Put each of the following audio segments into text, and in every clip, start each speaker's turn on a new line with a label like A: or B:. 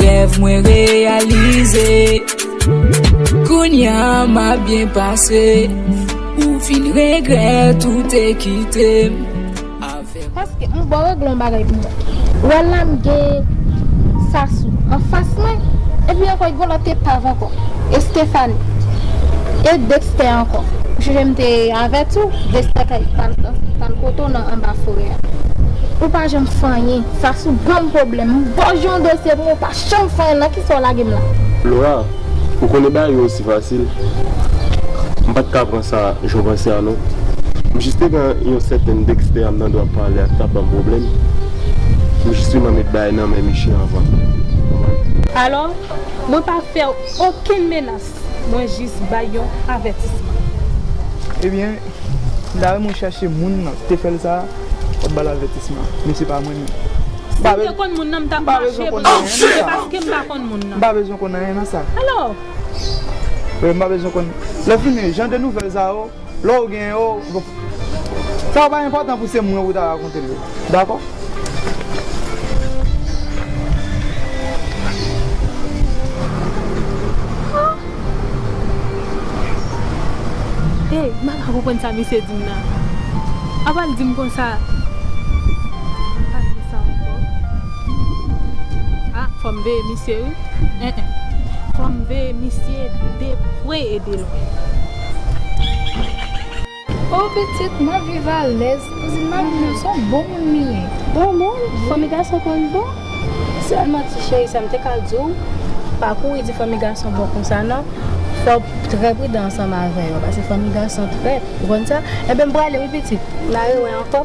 A: Rèv mwen reyalize Kounya ma byen pase Ou vin regrèt ou te kite m Avè
B: m Paske m bò regle yon bagay pou mwen. Ou wè la m gen Sasou anfas mwen, epi ankò gen yon lòt epav ankò, Estefani, e Dekstè ankò. Ou sonje m te avèti w, Dekstè kay pa l kote w nan anba forè a. Ou pa janm fanyen. Sasou banm problèm m bòj yon dosye pou mwen pa janm fè nan kisa w lagem la. Laura
C: ou konnen bagay yo osi fasil m pat ka pran sa jan w panse a non m jis te gen yon sèten Dexter a m tande w ap pale a ki tap banm problèm m jis te man met bagay nan men Miche anvan. Alò
D: mwen pa fèw okenn menas Mwen jis
E: bay yon avètisman. Ebyen Dayè mwen chache moun nan te fèl sa wap bal avètisman men se pa mwen nan. Sim te
D: konn moun nan m tap mache pou mwen men se paskem pa konn moun nan. M pa bezwen konn anyen nan sa.
E: Alò. Wi m pa bezwen konn. Lè fini jan de nouvèl sa yo. Lè w gen yo, sa yo pa enpòtan pou se mwen pou w ta rakonte l yo. Dakò?
D: Ey, mwen pa konprann sa misye di m nan. Apa l di m konsa, mwen pa vle sa ankò. A, fò m veye misye wi. Fò m veye misye de pre e de lwen.
B: Oh pitit map viv alèz. Kouzin map viv alèz son bon moun li ye. Bon moun
F: fanmi gason konn bon. Selman ti cheri sam te ka diw pa kouri di fanmi gason bon konsa nan fòw trè pridan ansanm avè yo paske fanmi gason trèt ou konn sa ebyen m prale wi pitit na rewè ankò.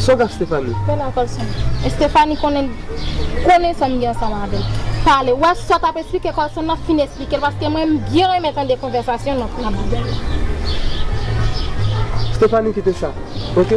E: Sa w k ap Stéphanie? Fè la kòl sone.
B: Stéphanie konnen konnen sa m gen ansanm avè l. Pale. Ou wè sa w t ap esplike kòl sone nan fin esplike l paske mwen m byen renmen tande konvèsasyon nou ap gen
E: la.
B: Stéphanie
E: kite sa ok.